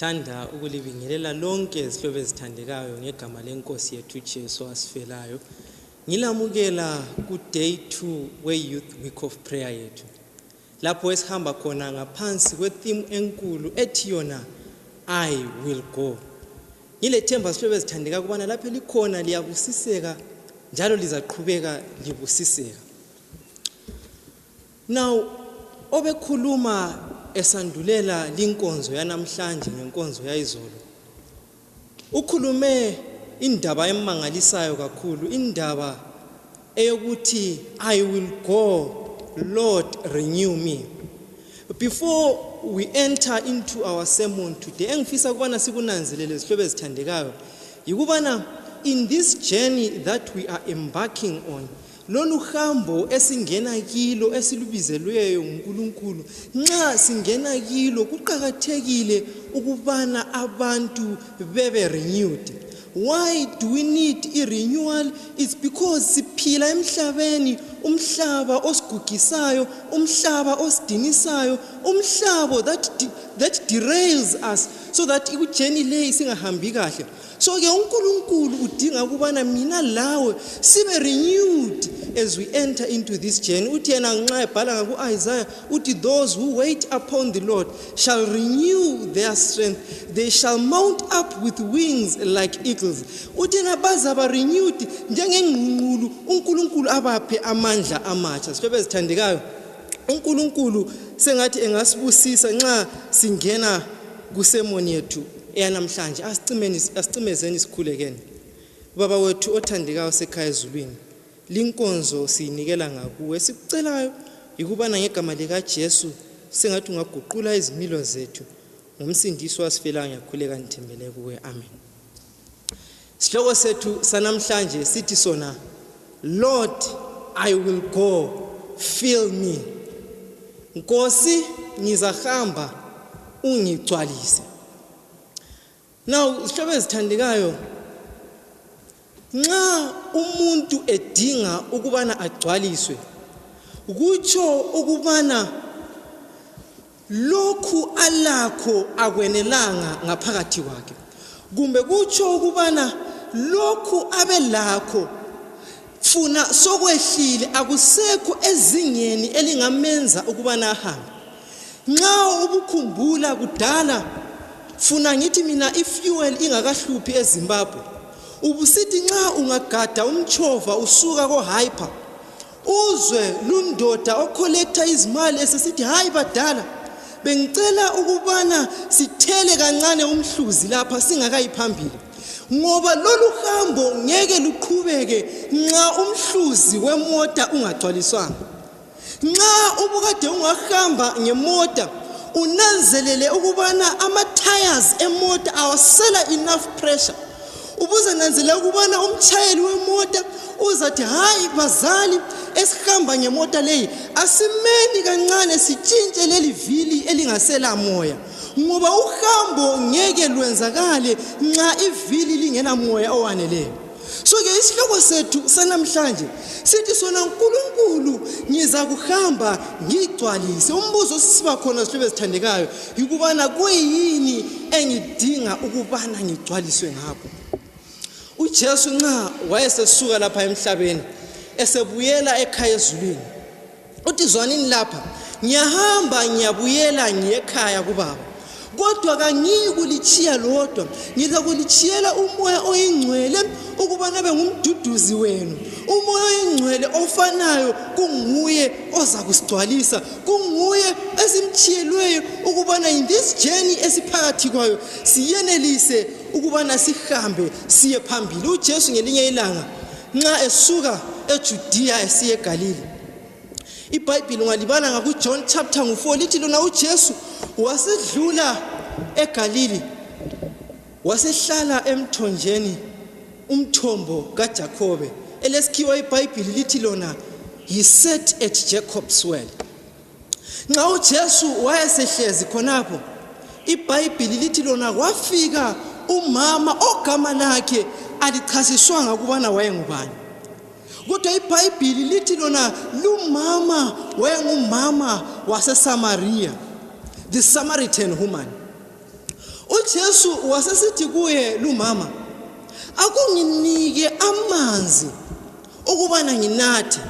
Ngithanda ukulibingelela lonke izihlobo ezithandekayo ngegama lenkosi yethu uJesu wasifelayo. Ngilamukela ku day 2 we Youth Week of Prayer yethu. lapho esihamba khona ngaphansi kwethimu enkulu ethi yona i will go ngilethemba sihlobo ezithandeka kubana lapho likhona liyabusiseka njalo lizaqhubeka libusiseka now obekhuluma esandulela linkonzo yanamhlanje ngenkonzo yayizolo Ukhulume indaba emangalisayo kakhulu, indaba eyokuthi I will go, Lord renew me. Before we enter into our sermon today, engifisa ukubana sikunanzelele zihlobo ezithandekayo, yikubana in this journey that we are embarking on, lolu hambo esingena kilo esilubizelweyo nguNkulunkulu nxa singena kilo kuqakathekile ukubana abantu bebe renewed why do we need i-renewal it's because siphila emhlabeni umhlaba osigugisayo umhlaba osidinisayo umhlabo that, that derails us so that ikujeni leyi singahambi kahle so ke unkulunkulu udinga ukubana mina lawe sibe renewed as we enter into this journey uthi yena nxa ebhala ngaku-isaya uthi those who wait upon the lord shall renew their strength they shall mount up with wings like eagles uthi yena bazaba renewed njengengqungqulu unkulunkulu abaphe amandla amatsha sihlobo ezithandekayo unkulunkulu sengathi engasibusisa nxa singena kusemoni yethu eyanamhlanje asicimeni asicimezeni sikhulekeni baba wethu othandekayo osekhaya ezulwini linkonzo siyinikela ngakuwe esikucelayo yikubana ngegama likajesu sengathi ungaguqula izimilo zethu ngomsindiso wasifelayo ngiyakhuleka ngithembele kuwe amen Sihloko sethu sanamhlanje sithi sona Lord I will go fill me. Nkosi ngizahamba ungigcwalise. Now isihlobo ezithandekayo nxa umuntu edinga ukubana agcwaliswe kutsho ukubana lokhu alakho akwenelanga ngaphakathi kwakhe kumbe kutsho ukubana lokhu abelakho funa sokwehlile akusekho ezingeni elingamenza ukubana ahambe nxa ubukhumbula kudala funa ngithi mina ifuel ingakahluphi ezimbabwe ubusithi nxa ungagada umtshova usuka kohyper uzwe lundoda okholektha izimali esesithi hayi badala bengicela ukubana sithele kancane umhluzi lapha singakayi phambili ngoba lolu hambo ngeke luqhubeke nxa umhluzi wemota ungagcwaliswanga nxa ubukade ungahamba ngemota unanzelele ukubana ama-tires emota awasela enough pressure ubuzananzela ukubana umtshayeli wemota uzathi hayi bazali esihamba ngemota leyi asimeni kancane sitshintshe leli vili elingasela moya ngoba uhambo ngeke lwenzakale nxa ivili lingela moya owaneleyo so-ke isihloko sethu sanamhlanje sithi sona nkulunkulu ngiza kuhamba ngigcwalise umbuzo osisiba khona sihlube sithandekayo yikubana kuyini engidinga ukubana ngigcwaliswe ngakho ujesu nxa wayesesuka lapha emhlabeni esebuyela ekhaya ezulwini uthi zwanini lapha ngiyahamba ngiyabuyela ngiyekhaya kubaba kodwa kangiyi kulitshiya lodwa ngizakulitshiyela umoya oyingcwele ukubana be ngumduduzi wenu umoya oyingcwele ofanayo kunguye oza kusigcwalisa kunguye esimtshiyelweyo ukubana in this journey esiphakathi kwayo siyenelise ukubana sihambe siye phambili ujesu ngelinye ilanga nxa esuka ejudiya esiye egalile ibhayibhile ungalibala ngakujohn chapter ngu-4 lithi lona ujesu wasedlula egalile wasehlala emthonjeni umthombo kaJakobe elesikhiwa iBhayibhili lithi lona he sat at Jacob's well nxa uJesu wayesehlezi khonapho iBhayibhili lithi lona wafika umama ogama lakhe alichasiswanga ukubana wayengubani kodwa iBhayibhili lithi lona lumama wayengumama waseSamaria the Samaritan woman uJesu wasesithi kuye lumama akunginike amanzi ukubana nginathe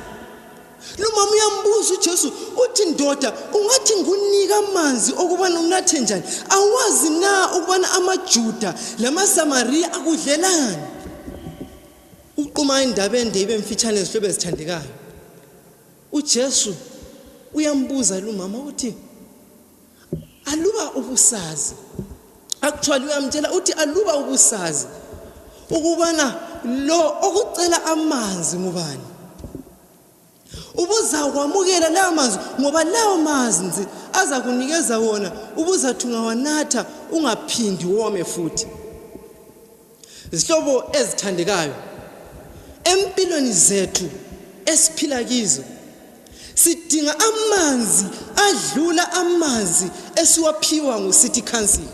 lumama uyambuza uJesu uthi ndoda ungathi ngunika amanzi okubana unathe njani awazi na ukubana amaJuda lamaSamariya akudlelani uquma indaba ende ibe mfitshane ezihlobo ezithandekayo uJesu uyambuza lumama uthi aluba ubusazi actually uyamtshela uthi aluba ubusazi ukubana lo okucela amanzi ngubani ubuzakwamukela lawo manzi ngoba lawo manzi azakunikeza wona ubuzathi ungawanatha ungaphindi wome futhi zihlobo ezithandekayo empilweni zethu esiphila kizo sidinga amanzi adlula amanzi esiwaphiwa ngucity council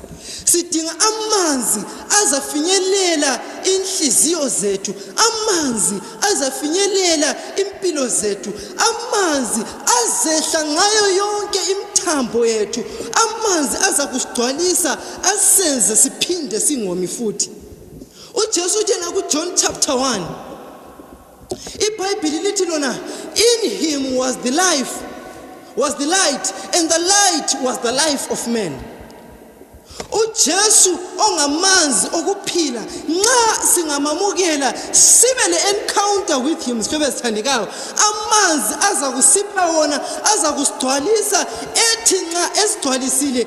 sidinga amanzi azafinyelela inhliziyo zethu amanzi azafinyelela impilo zethu amanzi azehla ngayo yonke imthambo yethu amanzi azakusigcwalisa asenze siphinde singomi futhi uJesu utshela kuJohn chapter 1 iBhayibhili lithi lona in him was the life was the light and the light was the life of man uJesu ongamanzi okuphila nxa singamamukela sibe le encounter with him sifebe sithandekayo amanzi aza kusipha wona aza kusigcwalisa ethi nxa esigcwalisile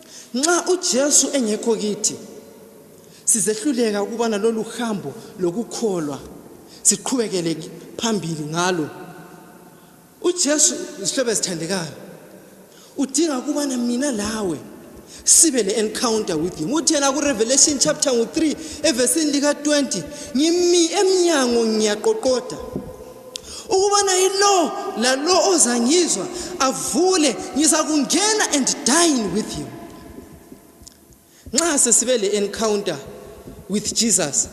nxa uJesu engekho kithi sizehluleka ukuba nalolu hambo lokukholwa siqhubekele phambili ngalo uJesu isihlobo esithandekayo udinga ukuba mina lawe sibe le encounter with him uthena ku revelation chapter ngu 3 evesini lika 20 ngimi emnyango ngiyaqoqoda ukubana yilo lalo ozangizwa avule ngizakungena and dine with him nxa sesibe le encounter with jesus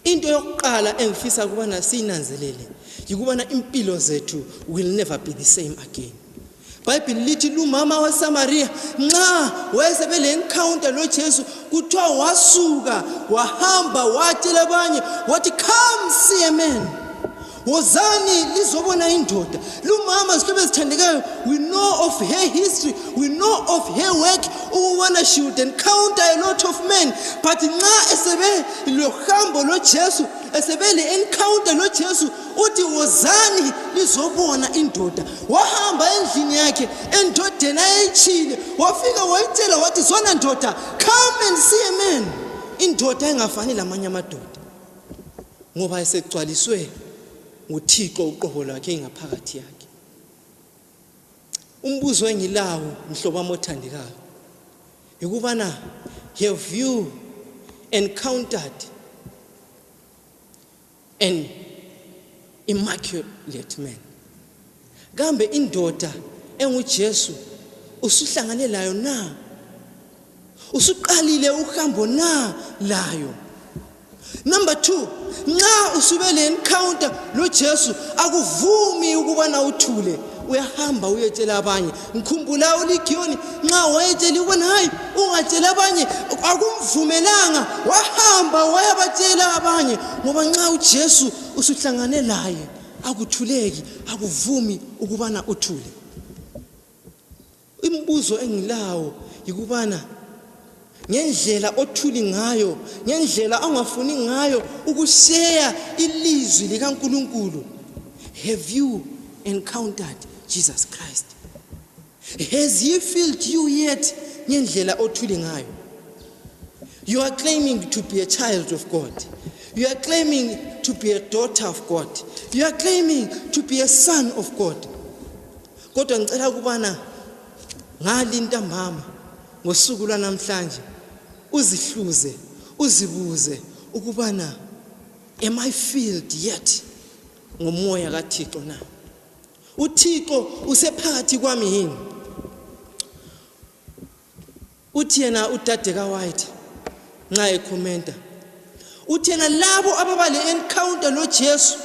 into yokuqala engifisa ukubana siyinanzelele yikubana impilo zethu will never be the same again ibhayibhili lithi lumama wasamariya nxa wayesebe le encounter lojesu kuthiwa wasuka wahamba watshela abanye wathi come see a man wozani lizobona indoda lumama zihlobo ezithandekayo we know of her history we know of her work ukubona she would encounter a lot of men but nxa esebe lohambo lojesu esebe le encounter lojesu uthi wozani lizobona indoda wahamba endlini yakhe endodeni ayeyitshile wafika wayitshela wathi zona ndoda come and see a man indoda engafani lamanye amadoda ngoba esegcwaliswe nguthixo uqobo lwakhe ingaphakathi yakhe umbuzo engilawo mhlobo wami othandekayo yikubana have you encountered an immaculate man kambe indoda enguJesu usuhlangane layo na usuqalile uhambo na layo number 2 nxa usube le encounter loJesu akuvumi ukubana uthule uyahamba uyetshela abanye ngikhumbula uligiyoni nxa wayetshela ukubona hayi ungatshela abanye akumvumelanga wahamba wayabatshela abanye ngoba nxa ujesu usuhlangane laye akuthuleki akuvumi ukubana uthule imibuzo engilawo yikubana ngendlela othuli ngayo ngendlela ongafuni ngayo ukuseya ilizwi likaNkuluNkulu have you encountered Jesus Christ has he filled you yet ngendlela othuli ngayo you are claiming to be a child of God you are claiming to be a daughter of God you are claiming to be a son of God kodwa ngicela ukubana ngali ntambama ngosuku lwanamhlanje uzihluze uzibuze ukubana am i filled yet ngomoya kathixo na uthixo usephakathi kwami yini uthi yena udadeka white nxa ekhomenta uthena labo ababa le-encounter lojesu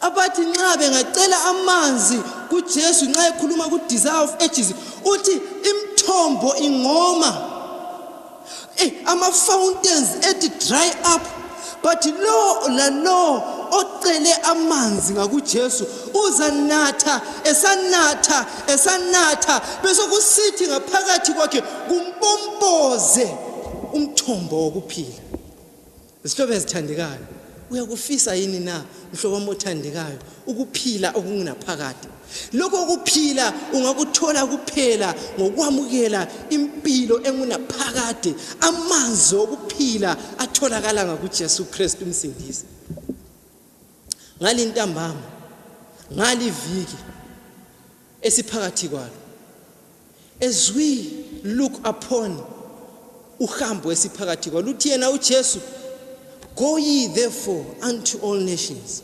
abathi nxa bengacela amanzi kujesu nxa ekhuluma ku-desire of ages uthi imithombo ingoma eh, ama-fountains ethi dry up but lo lalo ocele amanzi ngakuJesu uzanatha esanatha esanatha bese kusithi ngaphakathi kwakhe kumpompoze umthombo wokuphila isihlobo ezithandekayo uyakufisa yini na mhlobo wami othandekayo ukuphila okungunaphakade lokho kuphila ungakuthola kuphela ngokwamukela impilo engunaphakade amanzi okuphila atholakala ngakuJesu Kristu umsindisi ngalintambama ngaliviki esiphakathi kwalo as we look upon uhambo esiphakathi kwalo uthi yena uJesu go ye therefore unto all nations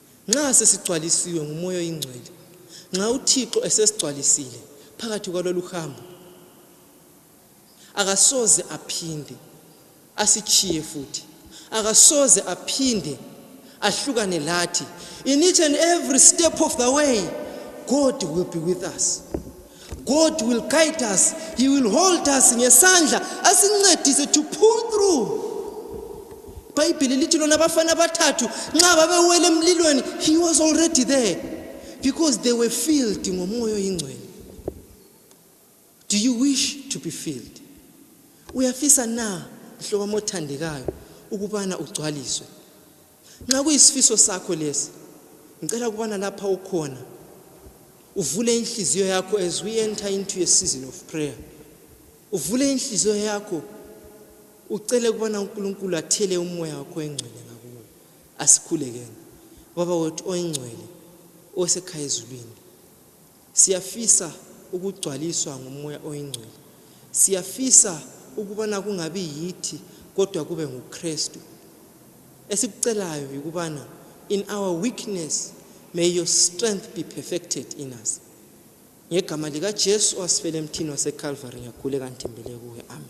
Nxa sesigcwalisiwe nguMoya oyiNgcwele, nxa uThixo esesigcwalisile phakathi kwalolu hambo, akasoze aphinde asitshiye futhi, akasoze aphinde ahlukane lathi. In each and every step of the way, God will be with us. God will guide us. He will hold us ngesandla asincedise to pull through. Ibhayibhili lithi lona abafana abathathu nxa babewela emlilweni he was already there because they were filled ngomoya oyingcwele. Do you wish to be filled? Uyafisa na mhlobami othandekayo ukubana ugcwaliswe? nxa kuyisifiso sakho lesi ngicela ukubana lapha ukhona uvule inhliziyo yakho as we enter into a season of prayer uvule inhliziyo yakho ucele ukubana unkulunkulu athele umoya wakho engcwele ngakuwe asikhulekeni baba wethu oyingcwele osekhaya ezulwini Siyafisa ukugcwaliswa nguMoya oyiNgcwele. Siyafisa ukubana kungabi yithi kodwa kube nguKristu. Esikucelayo yikubana in our weakness may your strength be perfected in us. Ngegama likaJesu owasifela emthini waseCalvary ngiyakhuleka ngithembele kuwe. Amen.